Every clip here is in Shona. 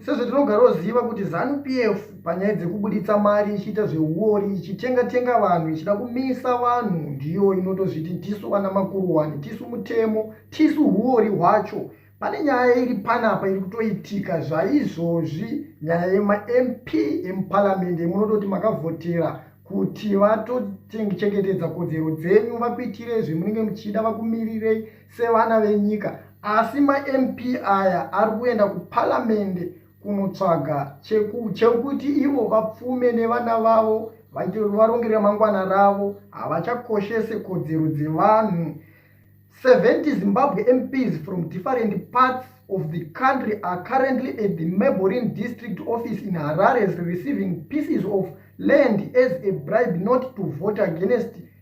Sezvatinogaraoziva kuti Zanu PF panyaya dzekubuditsa mari ichiita zvehuori ichitenga tenga vanhu ichida kumisa vanhu ndiyo inotozviti tisu vana makuruwani tisu mutemo tisu huori hwacho pane nyaya iri panapa iri kutoitika zvaizvozvi nyaya yemamp emuparamende munototi makavhotera kuti vatochengetedza kodzero dzenyu vakuitirei zvemunenge muchida vakumirirei sevana venyika asi mamp aya ari kuenda kuparamende kunotsvaga chekuti ivo vapfume nevana vavo vaite varongeri ramangwana ravo havachakoshese kodzero dzevanhu 70 zimbabwe mps from different parts of the country are currently at the maborin district office in harares receiving pieces of land as a bribe not to vote against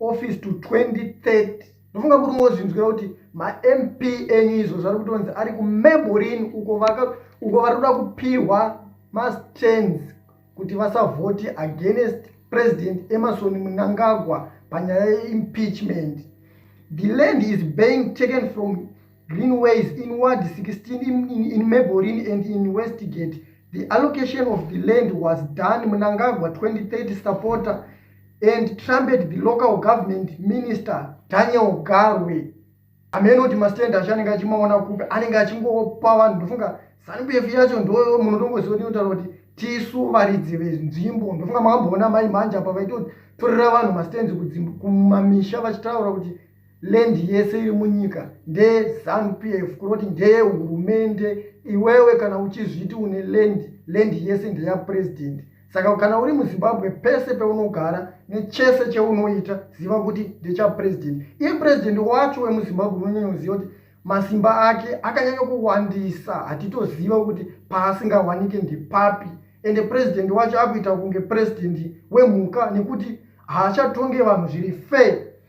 office to 2030 ndofunga kuti mozvinzwira kuti mamp enyu izvo zvari kutonzi ari kumeborin uko uko vari kuda kupihwa mastance kuti vasavhoti against president emerson munangagwa panyaya yeimpeachment the land is being taken from greenways in ward 16 in, in, in maborin and in westgate the allocation of the land was done munangagwa 2030 supporter and trumpet the local government minister daniel garwe amene kuti mastand acho anenge achimaona kupi anenge achingopa vanhu ndofunga zanupf yacho ndo munotongoziva kuti inotaura kuti tisu varidzi venzvimbo ndofunga makamboona mai manja apa vaitotorera vanhu mastands kumamisha vachitaura kuti land yese iri munyika ndeezanu p f kureva kuti ndeyehurumende iwewe kana uchizviti une land land yese ndeyapurezidendi saka kana uri muzimbabwe pese peunogara nechese cheunoita ziva kuti ndechapurezidendi iye purezidendi wacho wemuzimbabwe unonyanya kuziva kuti masimba ake akanyanya kuwandisa hatitoziva kuti paasingawanike ndepapi ende purezidendi wacho akuita kunge purezidendi wemhuka nekuti haachatonge vanhu zviri fair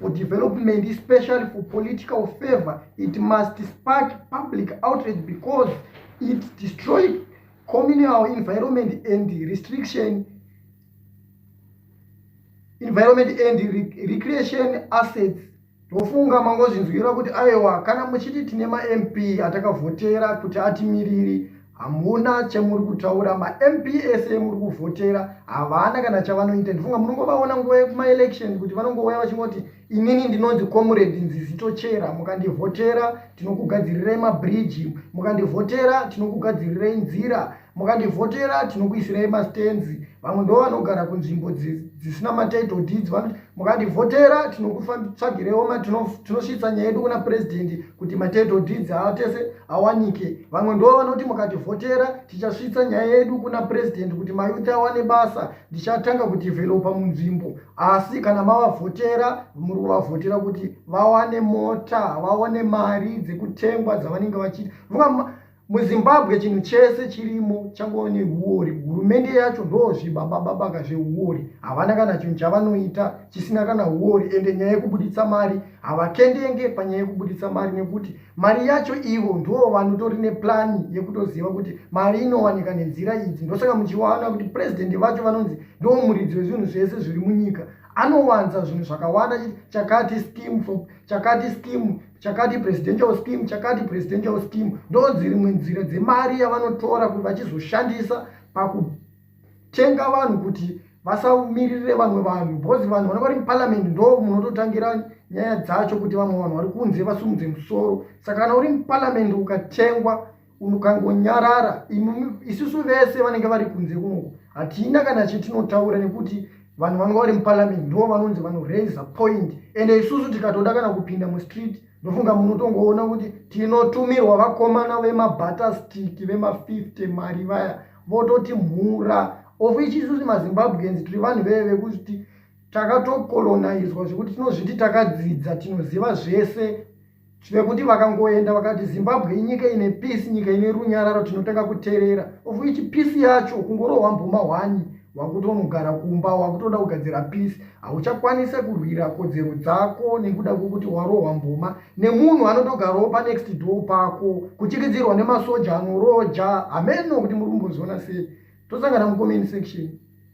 for development especially for political favor it must spark public outrage because it destroyed communal environment and restriction environment and re recreation assets ndofunga mangozvinzwira kuti aiwa kana muchiti tine mamp atakavhotera kuti atimiriri hamuna chamuri kutaura mamp ese muri kuvhotera havana kana chavanoita ndifunga munongovaona nguva yekumaelection kuti vanongouya vachingoti inini ndinonzi comrade nzizitochera mukandivhotera tinokugadzirirai mabridge mukandivhotera tinokugadzirirai nzira mukandivhotera tinokuisirai mastenzi vamwe ndo vanogara kunzvimbo dzisina matitle deeds vanoti mukativhotera tinokutsvagirewo tinosvitsa nyaya yedu kuna purezidendi kuti matitle deeds aatese awanike vamwe ndo vanoti mukativhotera tichasvitsa nyaya yedu kuna purezidendi kuti mayuti awane basa ndichatanga kudhivhelopa munzvimbo asi kana mavavhotera muri kuvavhotera kuti vawane mota vawane mari dzekutengwa dzavanenge vachiti muzimbabwe chinhu chese chirimo changova nehuori hurumende yacho ndozvibabababaka zvehuori havana kana chinhu chavanoita chisina kana huori ende nyaya yekubuditsa mari havakendenge panyaya yekubuditsa mari nekuti mari yacho ivo ndo vanotori neplani yekutoziva kuti mari inowanika nenzira idzi ndosaka muchiwana kuti purezidendi vacho vanonzi ndo muridzi wezvinhu zvese zviri munyika anowanza zvinhu zvakawanda chakati skim chakati skim chakati presidential scheme chakati presidential scheme ndonzi rimwe nzira dzemari yavanotora kuti vachizoshandisa pakutenga vanhu kuti vasaumiririre vamwe vanhu because vanhu vana vari muparliament ndo munototangira nyaya dzacho kuti vamwe vanhu vari kunze vasumudze musoro saka kana uri muparliament ukatengwa mukangonyarara isusu vese vanenge vari kunze kunoku hatina kana chetinotaura nekuti vanhu vanova vari muparliament ndo vanonzi vanoraise point ende isusu tikatoda kana kupinda mustreet ndofunga munotongoona kuti tinotumirwa vakomana vemabatastiki vemafifty mari vaya vototi mhura of ichi isusu mazimbabweans tiri vanhu veye vekuti takatokolonizwa zvekuti tinozviti takadzidza tinoziva zvese zvekuti vakangoenda vakati zimbabwe inyika ine peace nyika ine runyararo tinotanga kuterera of which peace yacho kungorohwa mbuma hwani wakutonogara kumba wakutoda kugadzira peace hauchakwanise kurwira kodzero dzako nekuda kwekuti warohwa mbuma nemunhu anotogarawo panext door pako kuchikidzirwa nemasoja anoroja hameno kuti muri kumboziona sei tosangana mucomment section